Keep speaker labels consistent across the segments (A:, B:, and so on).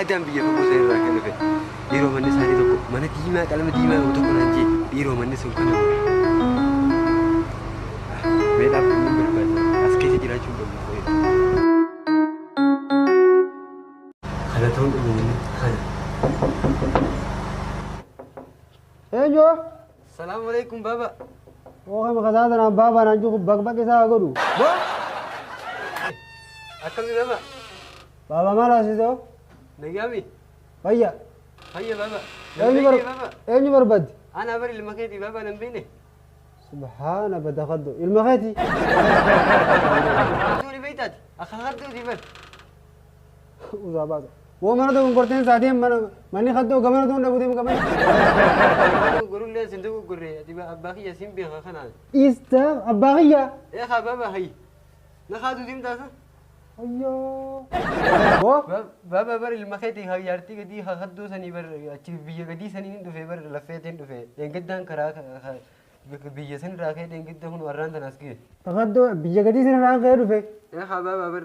A: Aadaan biyya fagoo sana irraa kan dhufe dhiiroo manni isaanii tokko mana diimaa qalama diimaa qabu tokko naan jee dhiiroo manni sun kana meedhaaf kan hin barbaadne as keessa jiraachuu hin barbaadne. Kana ta'uun dhumu kana.
B: Eenyu? Salaam
A: alaikum baba. Ookee maka
B: isaa sanaan baabaa naan jiru baqbaqi isaa haa godhu. Bo.
A: Akkami baba. Baabaa
B: maal haasisoo? Nagaami.
A: Fayya.
B: Fayya baba.
A: Eenyu bar- baba.
B: eenyu
A: barbaaddi?
B: Ana bar ilma keeti
A: baba nan beene. Subhaana
B: badakaddo. Ilma keeti.
A: Duuni beeytaati. Akka harduuti bar.
B: Uzaa baasa. Woo mana doon gorteen saa deem mana manni kaddoo gamana doon dhabu deem gamana.
A: Gurullee sin dugu gurree ati abbaa kiyya sin beeka kanaan. Dhiista abbaa
B: kiyyaa. Ee haa baaba
A: hayi. Na kaatu sim taasa.
B: Ayyoo. Woo. Baaba
A: bar ilma keetii haa yaartii gadii haa kaddoo sanii bar achi biyya gadii sanii hin dhufee bar laffeetiin dhufee. Eeggaddaan karaa Bika biyya sin irraa kee deengidda kun warraan tan as gee. Tafaddoo biyya
B: gadii sin irraan ka'ee dhufe. Ee habaa baabar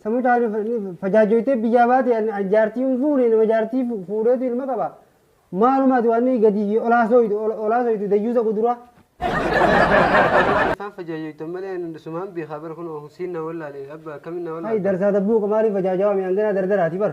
A: Samuu caalu
B: fajaajoytee biyyaa baate an an jaartii hin fuune nama jaartii fu- fuudheetu ilma qaba. Maalumaati waan inni gadii fi olaa sooytu ol- olaa sooytu dayyuusa quduraa. afaan
A: fajaajoytan malee ani sumaan beekaa bar kun siin na wallaale abba akkamin na Hay wallaale. darsaa dabbuu qamaarii
B: fajaajawaa mi hanganaa dardaraati bar.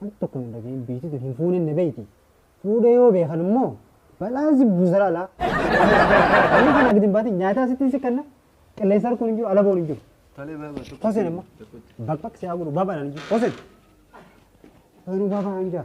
B: Wanti tokko hin dhagahin biitii tun hin fuunin na beeyti. Fuudhee yoo beekan immoo balaa si buusara alaa. Inni kana gidin baate nyaataa sittiin si kanna qilleensa harkuun hin jiru alaboon hin jiru. Tole baaba tokko. Hosen
A: amma
B: bakbak si haa godhu baabaan hin jiru. Hosen. Hosenuu baabaa hin jaa.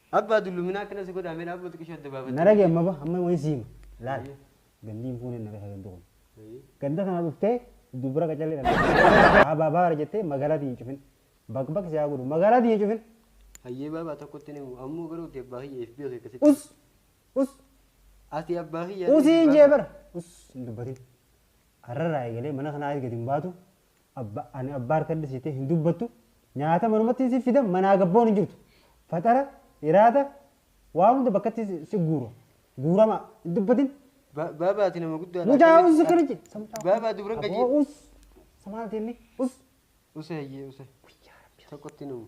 B: Abba dullumina
A: akkana si godha me dhaabuma xiqisho adda baafadhu. Na dhagahi amma ba amma wahin
B: si hima laal gandi hin fuune na beeka gandi kun ganda kana dhufte dubra qacalle dhalate aba baara jette magalati hin cufin bak bak si haa godhu magalati hin cufin. Hayyee baabaa
A: tokkotti ni ammoo garuu kee abbaa kiyya FB kee akkasitti. Us
B: us Ati
A: abbaa kiyya. Usiin jee bara.
B: Us hin dubbatin. Har'arraa eegalee mana kanaa gadi hin baatu. Abba ani abba harkadha siite hin dubbattu nyaata manumattiin siif fida manaa gabboon hin jirtu faxara iraata waa hunda bakkatti si- si guura guurama hin dubbatin Ba- Baaba ati
A: nama guddaa dha. mucaa us akkana je
B: Baaba dubran
A: gajii. us
B: samaalti inni us
A: Use hayyee use. Tokkotti numu.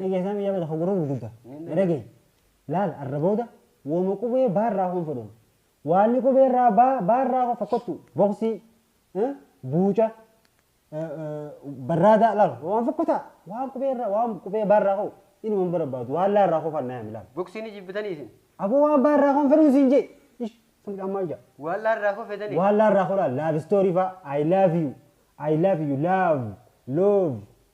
B: Dhageessaa biyyaa bada hoguruu gurgudda. Dhagee. Laal arra booda wooma qubee baa irraa hoon fedhoon. Waanni qubee irraa baa baa irraa hoo fakkottu boksii buuca barraadaa laal waan fakkotaa waan qubee irraa waan qubee baa irraa hoo inuma hin barbaadu waan laa irraa hoo fannaa yaami laal. Boksii ni jibbitanii isin.
A: Aboo waan baa irraa hoon
B: fedhoon siin jee. Ish sun dhammaa ija. Waan laa irraa hoo fedhanii.
A: Waan laa irraa hoo laal laal
B: istoorii faa I love you I love you love love